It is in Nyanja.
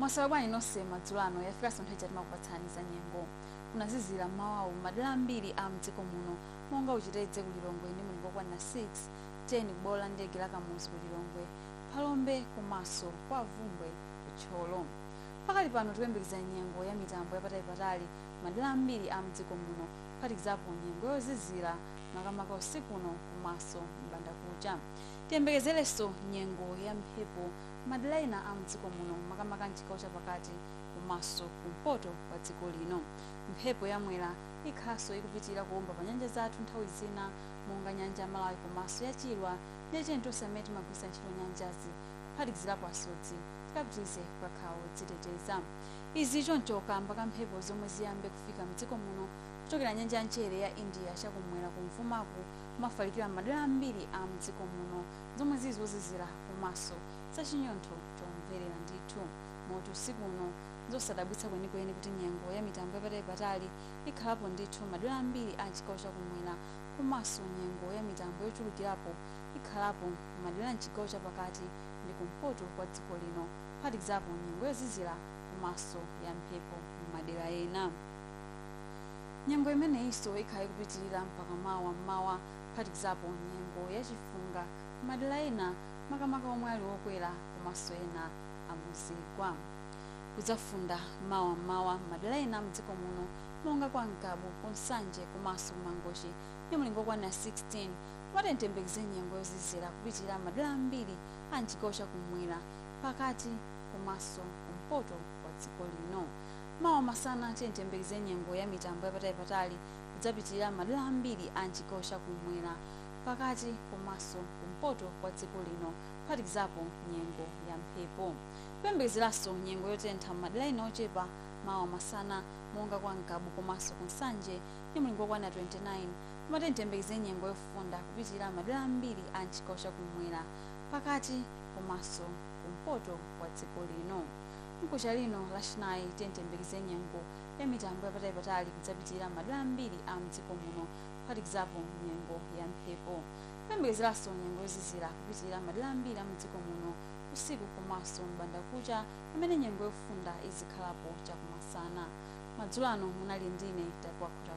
mwaswera bwanji nonse madzulo ano yafikanso nthawi ija timakupatsani za nyengo kunazizira mmawawu madera ambiri a mdziko muno monga ku Chitedze ku lilongwe ndi mulingo wokwanira 6 10 kubwalo la ndege la kamuzu ku lilongwe phalombe komanso kwa Bvumbwe ku Thyolo pakali pano tikuyembekeza nyengo ya mitambo yapatali-patali madera ambiri a mdziko muno kuphatikizapo nyengo yozizira makamaka usiku uno komanso m'bandakucha. Tiyembekezerenso nyengo ya mphepo madera ena a mdziko muno makamaka m'chigawo chapakati komanso kumpoto kwa dziko lino. Mphepo ya mwera ikhalanso ikupitirira kuomba pa nyanja zathu nthawi zina monga nyanja ya Malawi komanso ya Chilwa ndiye tiyeni tonse amene timagwiritsa ntchito nyanjazi kuphatikizirapo asodzi tikapitirize kukhala odziteteza. Izi choncho kaamba ka mphepo zomwe ziyambe kufika mdziko muno kuchokera nyanja ya mchere ya India chakum'mwera kumvumaku kumafalikira m'madera ambiri a mdziko muno zomwe zili zozizira komaso zachinyontho chomverera ndithu moti usiku uno nzosadabwitsa kwenikweni kuti nyengo ya mitambo yapatalipatali ikhalapo ndithu m'madera ambiri a mchigawo chakumwera komaso nyengo ya mitambo yochulukirapo ikhalapo m'madera a mchigawo chapakati ndi kumpoto kwa dziko lino. kuphatikizapo nyengo yozizira komanso yamphepo m'madera ena. Nyengo imeneyinso ikhala ikupitirira mpaka mawa m'mawa kuphatikizapo nyengo ya chifunga m'madera ena makamaka omwe ali okwera komanso ena a muzigwa. Kudzafunda mawa m'mawa m'madera ena a m'dziko muno monga kwa Ngabu, ku Nsanje komanso ku Mangochi ndi mlingo wokwanira 16. Komabe tiyembekezere nyengo yozizira kupitirira m'madera ambiri a m'chigawo cha kummwera. pakati komanso kumpoto kwa dziko lino mawa masana tiyembekezere nyengo ya mitambo yapatali-patali kudzapitirira madera ambiri a mchigawo chakumwera pakati komanso kumpoto kwa dziko lino kuphatikizapo nyengo ya mphepo kuyembekezeranso nyengo yotentha m'madera ena ochepa mawa masana monga kwa Ngabu komanso ku nsanje ndi mlingo wokwana 29 koma tiyembekezere nyengo yofunda kupitirira madera ambiri a mchigawo chakumwera pakati komanso kumpoto kwa dziko lino. Mkuja lino lachinayi tiyeni tiyembekezere nyengo ya mitambo yapatali-patali kudzapitirira madera ambiri a mdziko muno kuphatikizapo nyengo ya mphepo. Kuyembekezeranso nyengo yozizira kupitilira madera ambiri a mdziko muno usiku komanso m'bandakucha pamene nyengo yofunda izikhalapo chakumasana. Madzulo ano munali ndine Tapuwa Khotakocha.